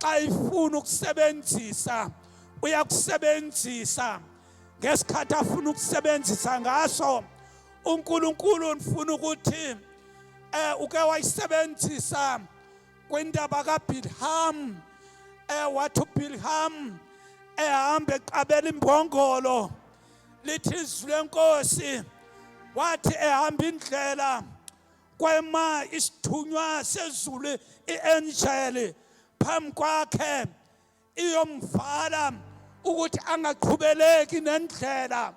xa ifuna ukusebenzisa uyakusebenzisa ngesikhathi afuna ukusebenzisa ngaso uNkulunkulu nifuna ukuthi eh uke wayisebenzisa kwindaba kaBilham eh wathi uBilham ehamba eqabela imbongolo lithi izwi lenkosi wathi ehamba indlela kwema isithunywa sezulu i-angel phambi kwakhe iyomvala ukuthi angaqhubeleki nendlela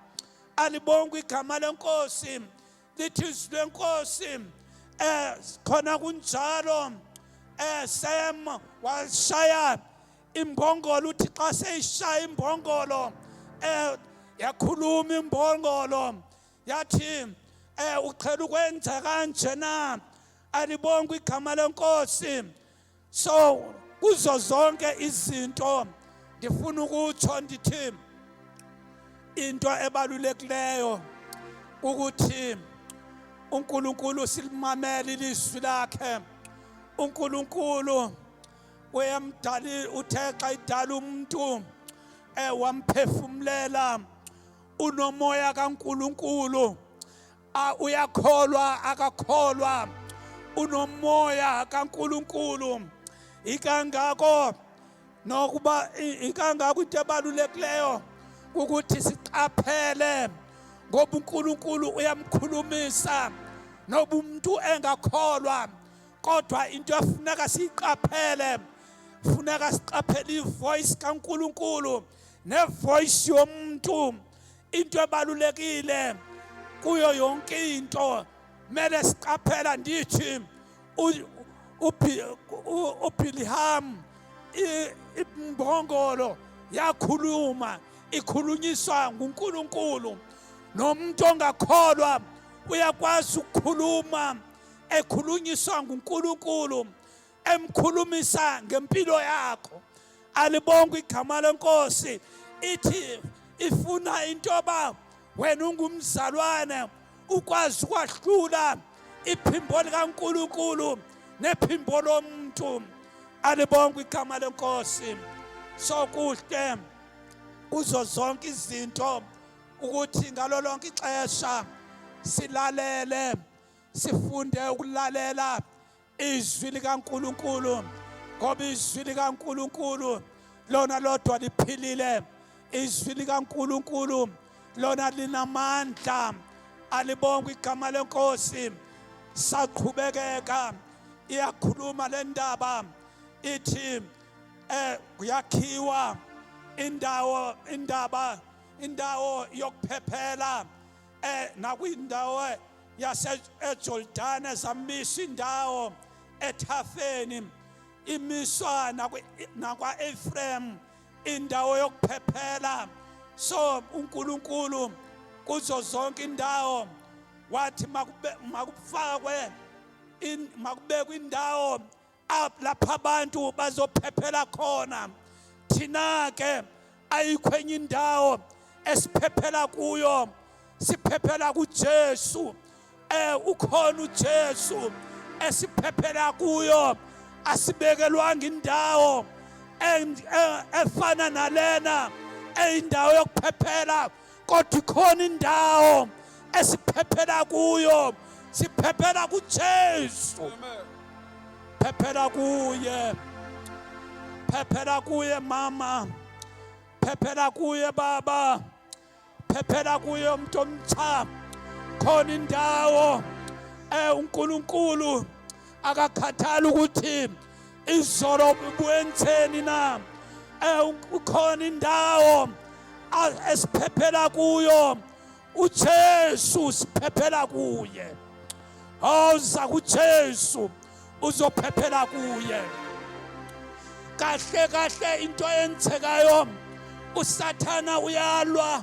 alibonga igama lenkosi lithi izwi lenkosi eh khona kunjalo eh Sam washaya imbongolo uthi xa seyishaya imbongolo eh yakhuluma imbongolo yathi um eh, uqhela ukwenza kanje na alibonga igama lenkosi so kuzo zonke izinto ndifuna ukutsho ndithi into ebalulekileyo ukuthi uNkulunkulu silimamela ilizwi lakhe uNkulunkulu uyamdali uthe xa idala umuntu eh wamphefumulela unomoya kaNkuluNkulu uyakholwa akakholwa unomoya kaNkuluNkulu ikangako nokuba ikangako into ebalulekileyo ukuthi siqaphele ngoba uNkulunkulu uyamkhulumisa noba umuntu engakholwa kodwa into efuneka siyiqaphele funeka siqaphele ivoice kaNkuluNkulu nevoice yomuntu into ebalulekile kuyo yonke into mele siqaphela ndithi uBilham imbongolo yakhuluma ikhulunyiswa nguNkulunkulu nomuntu ongakholwa uyakwazi ukukhuluma ekhulunyiswa nguNkulunkulu emkhulumisa ngempilo yakho alibonga igama lenkosi ithi ifuna into yoba wena ungumzalwane ukwazi ukwahlula iphimbo likaNkuluNkulu nephimbo lomuntu alibonga igama lenkosi sokuhle kuzo zonke izinto ukuthi ngalo lonke ixesha silalele sifunde ukulalela izwi likaNkuluNkulu ngoba izwi likaNkuluNkulu lona lodwa liphilile izwi likaNkuluNkulu lona linamandla alibonga igama lenkosi saqhubekeka iyakhuluma le ndaba ithi eh kuyakhiwa indawo indaba indawo yokuphephela eh nakwindawo yase eJordan ezamisa indawo ethafeni imiswa nakwa Ephraim indawo yokuphephela so uNkulunkulu kuzo zonke indawo wathi makufakwe makubekwe indawo lapha abantu bazophephela khona thina ke ayikho enye indawo esiphephela kuyo siphephela kuJesu eh ukhona uJesu esiphephela kuyo asibekelwanga indawo eh, efana nalena eyindawo yokuphephela kodwa ikhona indawo esiphephela kuyo siphephela kuJesu phephela kuye phephela kuye mama phephela kuye baba phephela kuye umuntu omtsha khona indawo eh uNkulunkulu akakhathali ukuthi izolo benzeni na eh, ukhona indawo esiphephela kuyo uJesu siphephela kuye awuza oh, kuJesu uzophephela kuye kahle kahle into eyenzekayo usathana uyalwa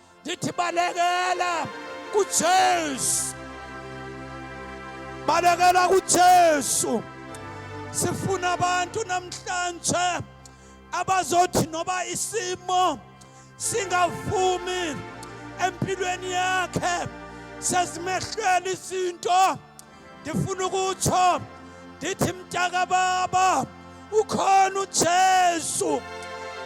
ndithi balekela kuJesu balekela kuJesu sifuna abantu namhlanje abazothi noba isimo singavumi empilweni yakhe sezimehlele izinto ndifuna ukutsho ndithi mntakababa ukhona ujesu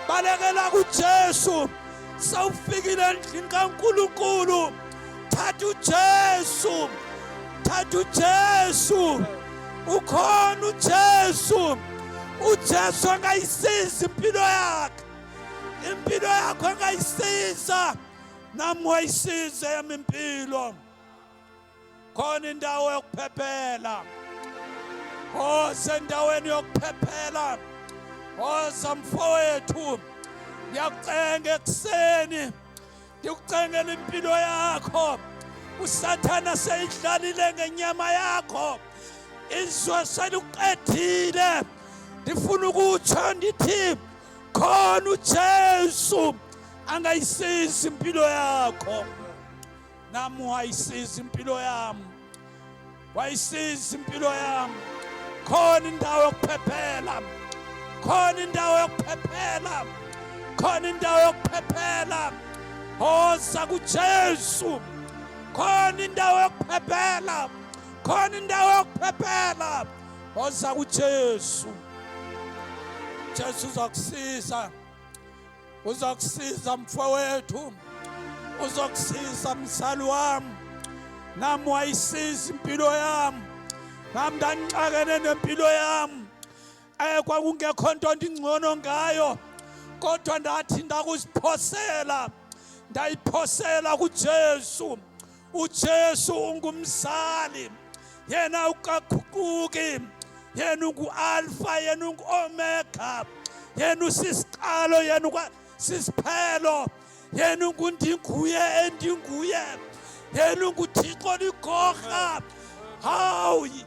balekela kujesu sawufikile endlini kankulunkulu thatha ujesu thatha ujesu ukhona ujesu ujesu angayisiza impilo yakhe impilo yakho angayisiza nami wayisiza yami impilo khona indawo yokuphephela oze endaweni yokuphephela oza mfowethu ngiyakucenga ekuseni ngikucengela impilo yakho usathana seyidlalile ngenyama yakho izwe seliqedile ndifuna ukutsho ndithi khona ujesu angayisizi impilo yakho nami wayisiza impilo yami wayisiza impilo yami khona indawo yokuphephela khona indawo yokuphephela khona indawo yokuphephela hoza kuJesu khona indawo yokuphephela khona indawo yokuphephela hoza kuJesu Jesu uzakusiza uzokusiza mfowethu uzokusiza msali wami nami wayisiza impilo yami nami ndangixakene nempilo yami eh kwakungekho nto ndingcono ngayo kodwa ndathi ndakuziphosela ndayiphosela kuJesu uJesu ungumzali yena ukaguquki yena ungu-alfa yena ungu-omega yena usisiqalo yena ukwasisiphelo yena ungundinguye endinguye yena unguthixo ligorha hawu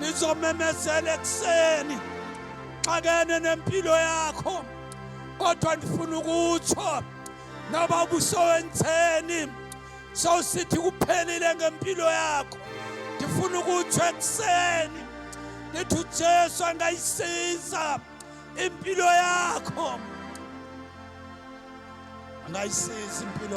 ngizomemezela ekuseni xakene nempilo yakho kodwa ndifuna ukutsho noba ubusowenzeni sowusithi kuphelile ngempilo yakho ndifuna ukutsho ekuseni ndithi ujesu angayisiza impilo yakho angayisiza impilo